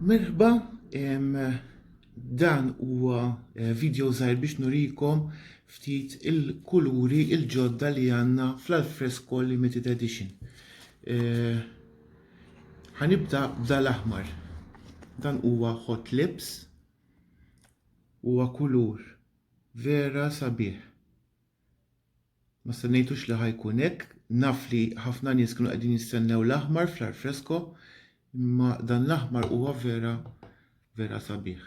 Merħba, dan huwa eh, video żgħir biex nurikom ftit il-kuluri il-ġodda li għandna fl-Alfresco Limited Edition. Eh, ħanibda b'dal aħmar. Dan huwa hot lips huwa kulur vera sabiħ. Ma stennejtux li ħa jkun hekk. Naf li ħafna nies kienu qegħdin jistennew l-aħmar fl-arfresko, imma dan l-aħmar huwa vera vera sabiħ.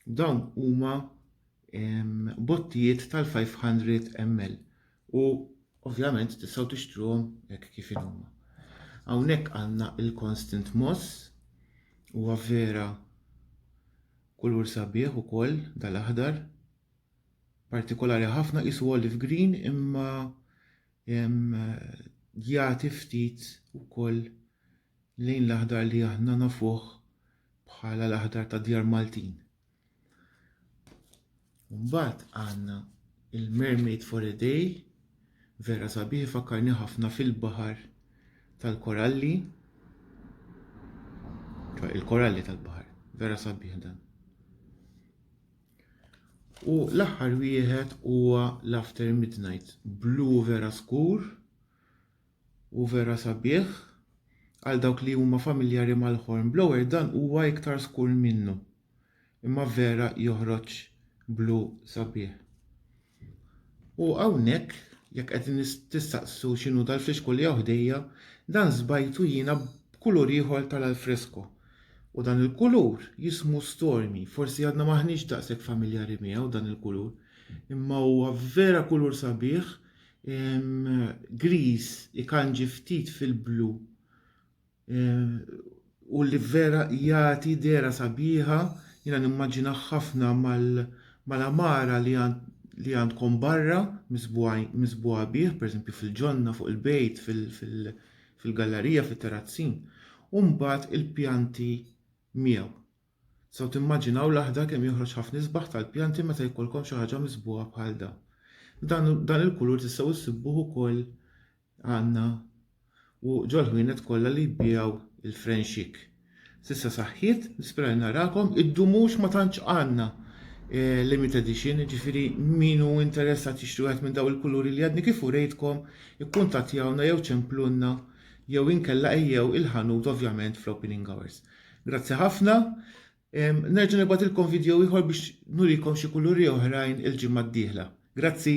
Dawn huma bottijiet tal-500 ml u ovvjament tistgħu tixtruhom hekk kif huma. Hawnhekk għandna il-Constant Moss, huwa vera kulur sabiħ ukoll dal-aħdar. partikolari ħafna qisu olive green imma jagħti ftit ukoll lejn l-aħdar li aħna nafuh bħala l-aħdar ta' djar Maltin. Mbagħad għandna il-Mermaid for a Day, vera sabiħ fakkarni ħafna fil-baħar tal-koralli, il-koralli tal-baħar, vera sabiħ dan. U l-aħħar wieħed huwa l-After Midnight blu vera skur u vera sabiħ għal dawk li huma familjari mal-horn blower dan huwa iktar skur minnu. Imma vera joħroġ blu sabiħ. U hawnhekk jekk qed tistaqsu x'inhu dal-frisko li hawn ħdejja, dan żbajtu jiena b'kulur ieħor tal-alfresko. U dan il-kulur jismu stormi, forsi għadna m'aħniex daqshekk familjari miegħu dan il-kulur, imma huwa vera kulur sabiħ, griż ikanġi ftit fil-blu. u li vera jagħti dera sabiħa, jiena nimmaġina ħafna mal-amara li li għandkom barra misbuħa bih, pereżempju fil-ġonna, fuq il-bejt, fil-gallerija, fit-terrazzin, u mbagħad il-pjanti miegħu. Saw timmaġinaw l-aħdar kemm joħroġ ħafna isbaħ tal-pjanti meta jkollkom xi ħaġa misbuħa bħal dan. Dan il-kulur tistgħu ssibuh ukoll għandna u ġol-ħwienet kollha li jbiegħu l-frenxik. S'issa saħħiet, nispera li narakom, id-dumux ma tantx għandna eh, limit edition, jiġifieri min hu interessat jixtri wieħed minn daw il-kuluri li għadni kif urejtkom, ikkuntattjawna jew ċemplunna jew inkella ejjew il-ħanut ovvjament fl-opening hours. Grazzi ħafna, Nerġa' nibgħatilkom vidjow ieħor biex nurikom xi kuluri oħrajn il-ġimgħa d-dieħla. Grazzi!